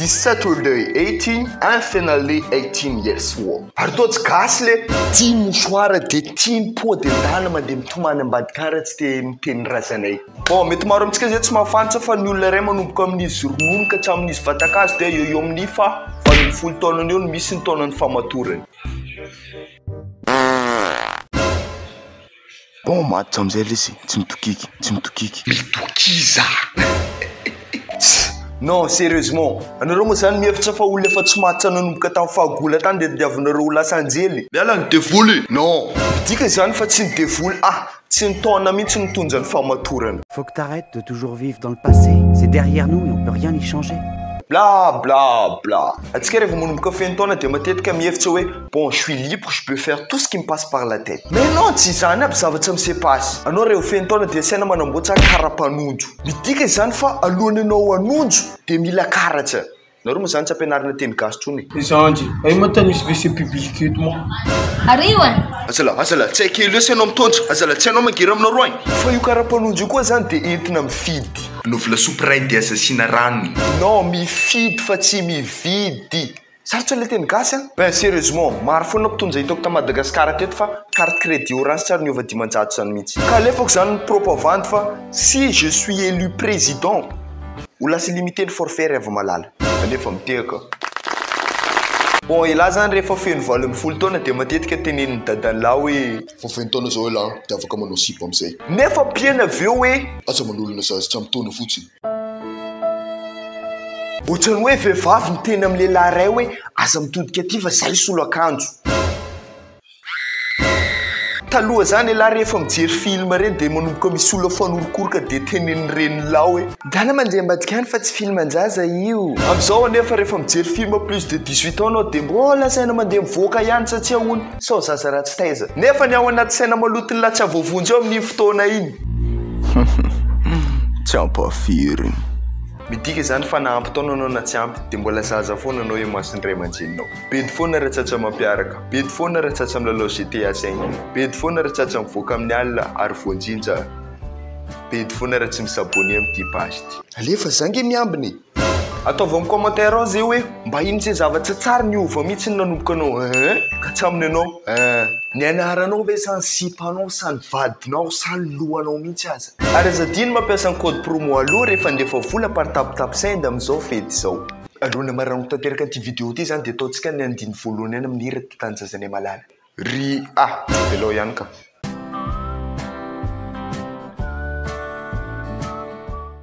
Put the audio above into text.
Saturday 18 and finally 18 years old. Ary toa tsy gasy le. Tia mouchoir dia tia ny peau dentale mandeha mitomany ambadikara tsy dia miteny razanay. Bon, mety maro amintsika izay tsy mahafantra fa ny olona iray manomboka amin'izy ronono ka hatramin'izy vatan-kazo dia eo eo amin'ny faha valo ambin'ny folo taonany eo no misy ny taonan'ny fahamatorany. Bon, maty hatramin'izay ilay izy, tsy mitokiky, tsy mitokiky. Mitokiza! Non, sérieusement, anareo moa izany mihevitra fa olona efa tsy maty nanomboka tamin'ny fahagola tany dia tadiavinareo ho lasa anjely? Miala ny devoly! Non! Midika izany fa tsy ny devoly, ah! Tsy ny taona mihitsy no mitondra ny fahamatorana. Faut que t'arrête de toujours vivre dans le passé, c'est derrière nous et on peut rien y changer. Bla bla bla. Antsika rehefa manomboka feno taona dia matetika mihevitra hoe bon je suis libre, je peux faire tout ce qui me passe par la tête. Mais non, tsy izany aby zavatra misepazy. Anao rehefa feno taona dia asaina manamboatra kara mpanondro. Midika izany fa alohan'ny anao hanondro dia mila karatra. Nareo moa zany tsy ampianarina teny gasy tsony e. Zanjy, ay ma tany misy WC public eto ma. Arivo an! Azalahy, azalahy, tsy haiko elo esa ianao mitondra, azalahy tsy hainao mangery aminareo agny. Fa io karapanondro io koa zany dia entina mifidy. Anaovy lasopy ray dia aza asiana ranony. Non, mifidy fa tsy mividy. Sarotra le teny gasy an! Eh sérieusement, maro foana mpitonja hitako ta Madagascar teto fa carte crédit orange tsy ary niova dimanjato zany mintsy. Ka alefako zany ny propo avandy fa. Si je suis élu président, ho lasa illimité ny forfait Raivo Malala. Anefa mitehaka aho. Bon elah zany rehefa feno valo ambin'ny folo taona dia matetika tenenin'i dadanlah hoe. Efa feno taona zao elah dia afaka manao sipa amizay. Nefa mpiena avy eo hoe. Aza manolona zaza tsy ampy taona fotsiny. Ohatrany hoe vehivavy niteny amin'ny lehilahy iray hoe aza mitodika aty fa zay solo akanjo. Taloha zany elah rehefa mijery film reny dia manomboka misolo afoan'orokoroka dia tenenin'i renilao hoe. Dala mandeha ambadika any fa tsy film an-jaza io. Amzao anefa rehefa mijery film plus de dix huit ans anao dia mbola lazaina mandeha mivoaka ihany satsia hono sao zaza ratsy taiza. Nefa ny ao anaty saina maloton'ny lahy tsy azo voavonjy eo amin'iny fotoana iny. Tsy ampahafirin'ny. Midika izany fa na ampy taona anao na tsy ampy dia mbola zaza foana anao eo imason'ny ray aman-dreninao. Bedy foana ratsatsa mampiaraka Bedy foana ratsatsa milalao GTA saingy Bedy foana ratsatsa mivoaka amin'ny alina ary voanjinja Bedy foana raha tsy mi-s'abonner amin'ity page ity Alefa za nge miambina e! Ataovy amin'ny commentaire ao ze hoe mba ino ze zavatra tsara niova mitsy ny nanomboka anao eeh ka hatraminy anao eeh. Ny anaranao ve sa ny sipanao sa ny vadinao sa ny lohanao mihitsy aza. Ary aza adino mampiasa ny code promo aloha rehefa handefa vola par tape tape send amin'izao fety izao. Alohan'ny hamarahako tanteraka an'ity vidéo ity zany dia ataontsika ny andininy voalohany ihany amin'ny hira Ty tanindrazanay malala. Ry a! Velao ihany ka!